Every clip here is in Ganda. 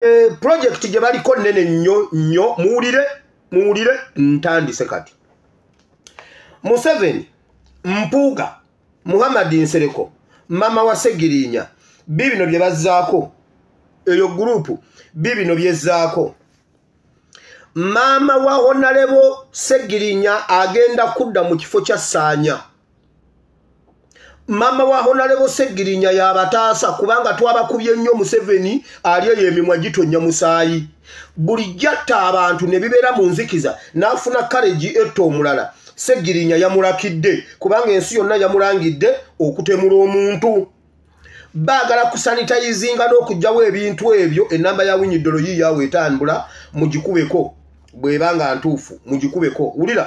eh, project gye baliko nnene nnyo nnyo muwulire muwulire ntandise kati museveni mpuuga muhammad nsereko mama wa segirinya bibino bye bazzaako eyo gurupu bibino byezzaako maama wa honalebo segirinya agenda kudda mu kifo kya saanya maama wa honalebo segirinya yabataasa kubanga twabakubye nnyo museveni ali eyo emimwa gitonnya musaayi bulijjo atta abantu ne bibeera mu nzikiza n'afuna karegi etta omulala segirinya yamulakidde kubanga ensi yonna yamulangidde okutemula omuntu baagala kusanitayizinga n'okugjawo ebintu ebyo enamba ya winyidolo yiyawo etambula mugikubeko bweba nga ntuufu mugikubeko wulira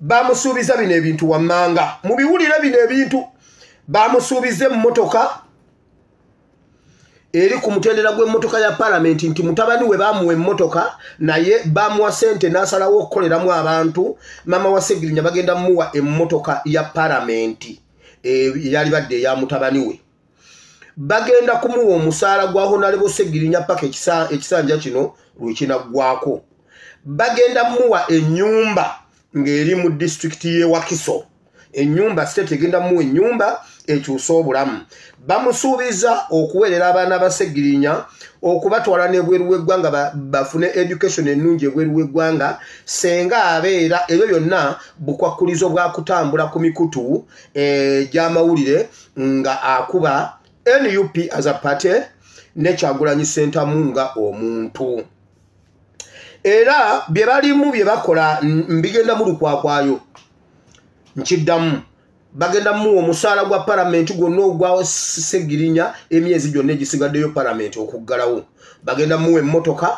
bamusuubiza bino ebintu wammanga mubiwulire bino ebintu bamusuubiza emmotoka eri ku mutendera gw'emmotoka ya palamenti nti mutabani we bamuwa emmotoka naye bamuwa sente n'asalawo okukoleramu abantu maama wa segirinya bagenda muwa emmotoka ya palamenti eh, eyali badde eya mutabani we bagenda kumuwa omusaala gwa honalebo segirinya paka ekisanja kino lwekinaggwako bagenda muwa enyumba ng'eri mu disitulikiti y'ewakiso enyumba state egenda muwa enyumba ekyusa obulamu bamusuubiza okuweerera abaana ba segirinya okubatwala n'ebweru w'eggwanga bafune education ennungi ebweru w'eggwanga senga abeera ebyo byonna bukwakkulizo bwa kutambula ku mikutu eh, gy'amawulire nga akuba nup as a party ne kyagulanyi ssentamu nga omuntu era bye balimu bye bakola mbigenda mu lukwakwayo nkiddamu bagenda muwa omusaala gwa palamenti gwonna ogwa segirinya emyezi gyonna egisigaddeyo palamenti okuggalawo bagenda muwa emmotoka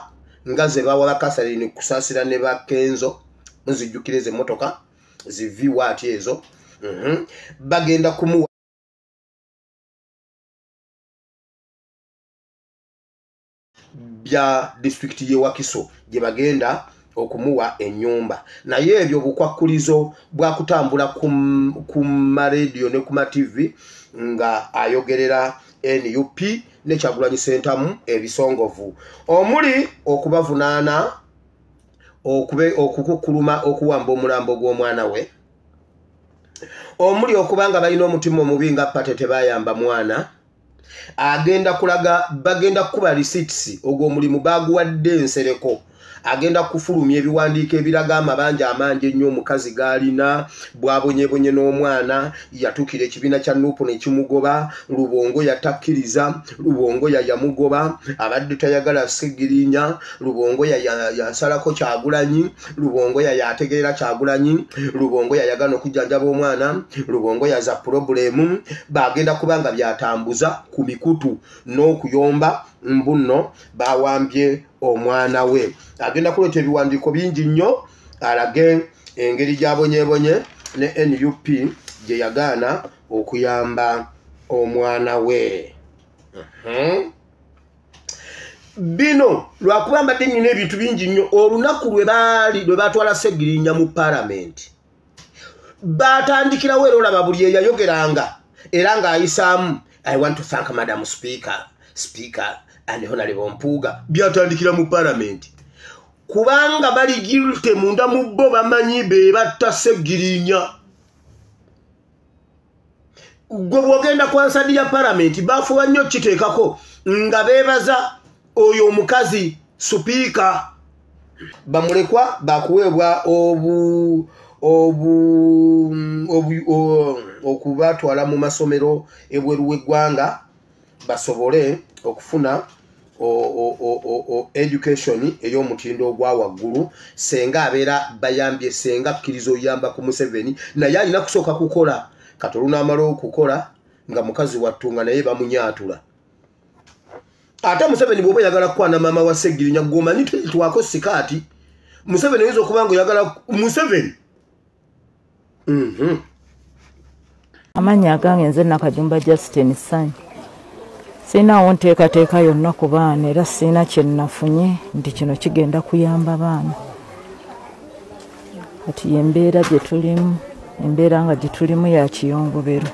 nga ze bawa bakatharine kusasira ne bakenzo muzijjukira ezo emmotoka zivi waati ezo mhm. bagenda kumuwa bya disitulikiti ye wakiso gye bagenda okumuwa enyumba naye ebyo obukwakkulizo bwa kutambula ku marediyo ne ku mativi nga ayogerera nup nekyagulanyi sentamu ebisongovu omuli okubavunaana okukukuluma okuwamba omulambo gw'omwana we omuli okuba nga balina omutima omubi nga pate tebayamba mwana agenda kulaga bagenda kukuba receipts ogwo omulimu baguwadde ensereko agenda kufulumya ebiwandiiko ebiraga amabanja amangi ennyo omukazi gaalina bwabonyebonye n'omwana yatukira ekibiina kya nupu nekimugoba lubongo yatakkiriza lubongo yayamugoba abadde tayagala segirinya lubongo yasalako kyagulanyi lubongo yaya ategeera kyagulanyi lubongo yayagana okujjanjaba omwana lubongo yaza pulobulemu bagenda kuba nga byatambuza ku mikutu n'okuyomba mbunno bawambye omwana we agenda kuleeta ebiwandiiko bingi nnyo alage engeri gyabonyebonye ne nup gye yagaana okuyamba omwana we mhm. bino lwakuba mbadde nyina ebintu bingi nnyo olunaku lwe baali lwe batwala segirinya mu palamenti batandikirawo era olaba buli eyayogeranga era ng'ayisaamu i want to thank madam speaker speaker and honalebo mpuuga byatandikira mu palamenti kubanga bali gilte munda mu bo bamanyi be batta segirinya gwe bwogenda ku ansadi ya palamenti bafuba nnyo okukiteekako nga beebaza oyo omukazi supiika bamulekwa bakuweebwa okubatwala mu masomero ebweru w'eggwanga basobole okufuna education ey'omutindo ogwa waggulu senga abeera bayambye senga akkiriza oyamba ku museveni naye alina kusooka kukola kati olunaamala okukola nga mukazi wattu nga naye bamunyatula ate museveni bwoba oyagala kukwana maama wa segirinya gwomanyi twako sikaati museveni oyinza okuba nga oyagala museveni mhm. amannya agange nze nakajumba justin sanyu sirinawo nteekateeka yonna ku baana era sirina kyenafunye nti kino kigenda kuyamba baana kati yembeera gyetulimu embeera nga gyetulimu yakiyongobero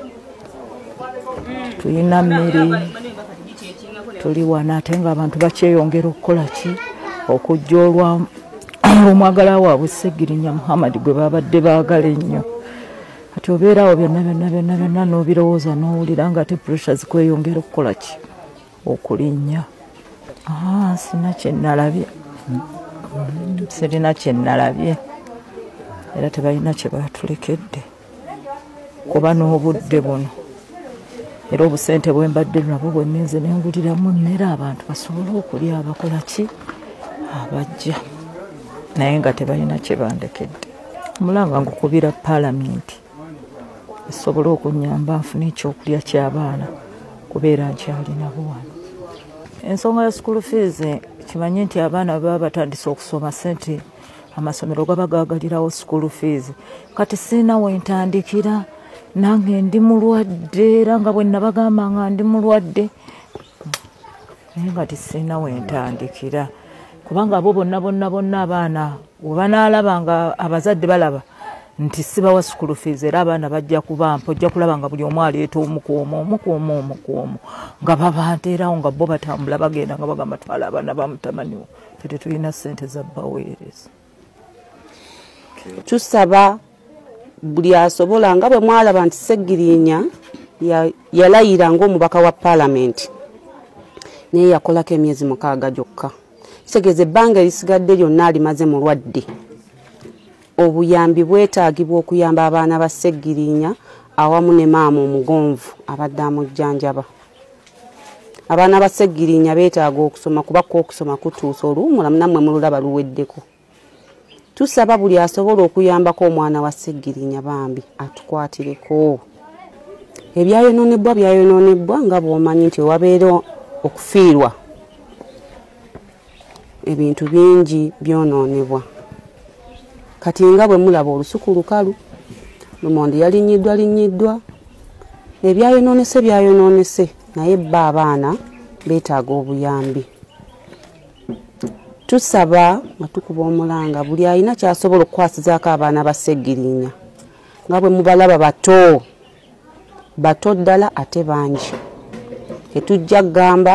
tulina mmere tuli wano ate ngaabantu bakyeyongera okukola ki okujja olwa olw'omwagala waabwe segirinya muhammadi gwe babadde baagala ennyo kati obeera awo byonna byonna byonna byonna n'obirowooza n'owulira nga ate puresure zikweyongera okukola ki okulinnya ah, sina kyenalabye sirina kyenalabye era tebalina kye baatulekedde kuba n'obudde buno era obusente bwembadde nabwo bweninze nenguliramu emmere abantu basobole okulya abakola ki abajja naye nga tebalina kyebandekedde omulanga ngukubira palamenti esobole okunyamba nfuna ekyokulya kyabaana kubeera nkyalina buwano ensonga ya school fees kimanye nti abaana baba batandise okusoma sente amasomero gaba gagalirawo school fees kati sirina wentandikira nange ndi mulwadde era nga bwenabagamba nga ndi mulwadde naye nga tisirina wentandikira kubanga abo bonna bonna bonna abaana webanaalaba nga abazadde balaba nti sibawa sukulu fees era abaana bajja kubampa ojja kulaba nga buli omu aleeta omukuomu omukuomu omukuomu nga babanteerawo nga bo batambula bagenda nga bagamba twala abaana bamutamanyiwo ffe tetulina sente za baweereza tusaba buli asobola nga bwe mwalaba nti segirinya yalayira ngaomubaka wa palamenti naye yakolako emyezi mukaaga gyokka kitegeeza ebbanga erisigadde lyonna alimaze mulwadde obuyambi bwetaagibwa okuyamba abaana ba segirinya awamu ne maama omugonvu abadde amujjanjaba abaana ba seggirinya beetaaga okusoma kuba kwo okusoma kutuusa oluwumula munammwe mululaba luweddeko tusaba buli asobola okuyambako omwana wa seggirinya bambi atukwatireko ebyayonoonebwa byayonoonebwa nga bw'omanyi nti ewabeera okufiirwa ebintu bingi byonoonebwa kati nga bwe mulaba olusuku lukalu lumondi yalinyiddwa linyiddwa ebyayonoonese byayonoonese naye bba abaana beetaaga obuyambi tusaba nga tukuba omulanga buli alina kyasobola okukwasizaako abaana ba segirinya nga bwe mubalaba bato bato ddala ate bangi tetujja kugamba